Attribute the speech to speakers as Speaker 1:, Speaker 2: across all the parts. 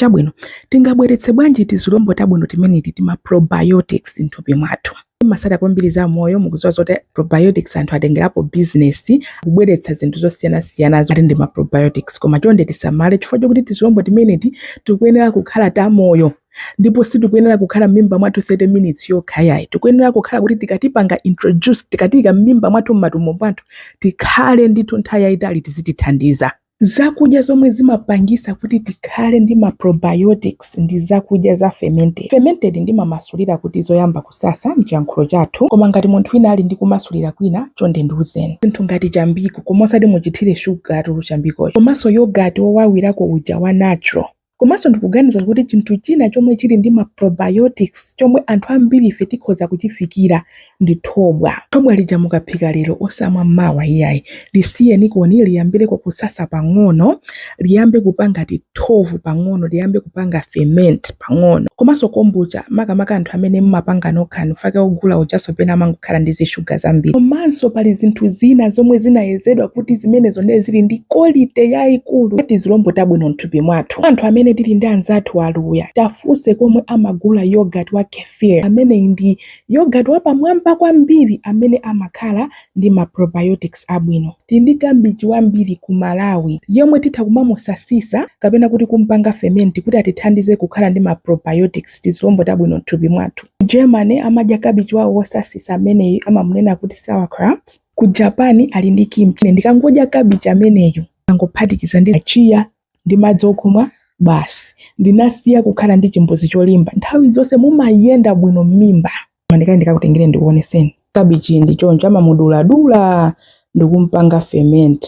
Speaker 1: Chabwino, tingabweretse bwanji tizilombo tabwino timeneti tima probiotics m'thupi mwathu? mmatsata kwambiri za moyo mukudziwa zoti probiotics anthu atengerapo business kubweretsa zinthu zosiyanasiyana zoti ndi ma probiotics koma chonde tisamale chifukwa chokuti tizilombo timeneti tikuyenera kukhala ta moyo ndipo sitikuyenera kukhala m'mimba mwathu 30 minutes yokha iyayi tikuyenera kukhala kuti tikatipanga introduce tikatiika m'mimba mwathu m'matumbo mwathu tikhale ndithu nthawi yayitali tizitithandiza Zakudya zomwe zimapangisa kuti tikhale ndi ma probiotics ndi zakudya za fermented. Fermented ndimamasulira kuti zoyamba kusasa mchiyankhulo chathu koma ngati munthu wina ali ndi kumasulira kwina chonde ndiuzeni. Zinthu ngati chambiko koma osati muchithire sugartu chambikocho komanso yogurt wowawirako uja wa natural. Komanso ndikuganiza kuti chinthu china chomwe chili ndi ma probiotics chomwe anthu ambirife tikhoza kuchifikira ndi thobwa. Thobwa lija mukaphika lero osamwa mawa iyayi. Lisiyenikoni liyambireko kusasa pang'ono, liyambe kupanga tithovu pang'ono, liyambe kupanga ferment pang'ono. Komanso kombucha, makamaka anthu amene mumapanga nokhanu, fake wogula ujanso pena amangokhala ndi zishuga zambiri. Komanso pali zinthu zina zomwe zinayezedwa kuti zimenezo ndiye zili ndi quality yaikulu ya tizilombo tabwino. mthupi mwathu. Anthu amene tili ndi anzathu a Luya, tiafunse komwe amagula yogurt wa kefir. Ameneyi ndi yogurt wapamwamba kwambiri amene amakhala ndi ma probiotics abwino. Tili ndi kabichi wambiri ku Malawi yemwe titha kumamusasisa kapena kuti kumpanga ferment kuti atithandize kukhala ndi ma probiotics, tizilombo tabwino mthupi mwathu. Ku Germany amadya kabichi wawo wosasisa ameneyu amamunena kuti sauerkraut. Ku Japan ali ndi kimchi. Ndikangodya kabichi ameneyu. nkungophatikiza ndi chia ndi madzi okumwa basi ndinasiya kukhala ndi chimbuzi cholimba nthawi zonse mumayenda bwino m'mimba mwandikale ndikakutengereni ndikuoneseni kabichi ndi choncho amamuduladula ndikumpanga ferment.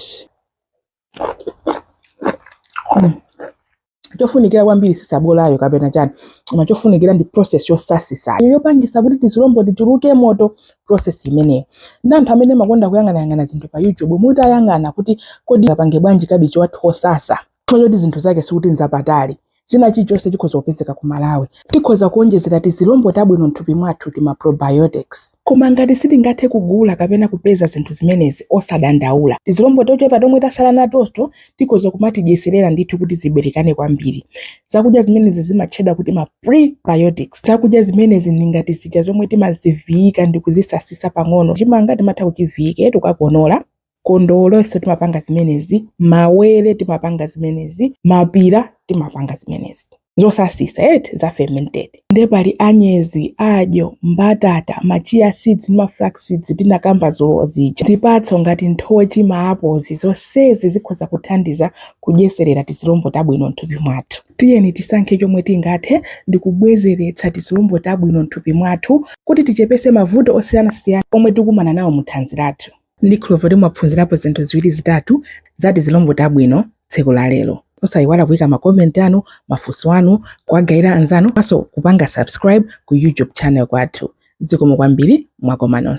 Speaker 1: chofunikira kwambiri si sabolayo kapena chani koma chofunikira ndi process yosasisa yopangisa kuti tizilombo tichuluke mwa process imeneyo ndi anthu amene mmakonda kuyang'anayang'ana zinthu pa youtube mutayang'ana kuti kodi tipange bwanji kabichi wathu wosasa choti zinthu zake sikuti nzapatali china chilichonse chikhoza kupezeka ku malawi tikhoza kuonjezera tizilombo tabwino mthupi mwathu tima probiotics koma ngati sitingathe kugula kapena kupeza zinthu zimenezi osadandaula tizilombo tochepa tomwe tatsala natoto tikhoza kumatidyetserera ndithu kuti tiberekane kwambiri. Zakudya zimenezi zimatchedwa kuti ma prebiotics. Zakudya zimenezi ndi ngati zija zomwe timaziviyika ndi kuzisasisa pang'ono. Chimanga timatha kuchiviyika tikakonola, kondowolenso timapanga zimenezi, mawere timapanga zimenezi, mapira timapanga zimenezi. zosasitsa eti za fermented nde pali anyezi adyo mbatata ma chia seeds ndi ma flax seeds tinakamba dzulo zija zipatso ngati nthochi ma apozi zonsezi zikhoza kuthandiza kudyetserera tizilombo tabwino mthupi mwathu tiyeni tisankhe chomwe tingathe ndi kubwezeretsa tizilombo tabwino mthupi mwathu kuti tichepese mavuto osiyanasiyana omwe tikumana nawo mu thanzi lathu Ndikhulupirira mwaphunzirapo zinthu ziwiri zitatu za tizilombo tabwino tsiku la lero. Osayiwala kuika ma comment anu, mafunso anu, kuwagayira anzanu komanso kupanga subscribe ku YouTube channel kwathu. Zikomo kwambiri, mwakoma nonse.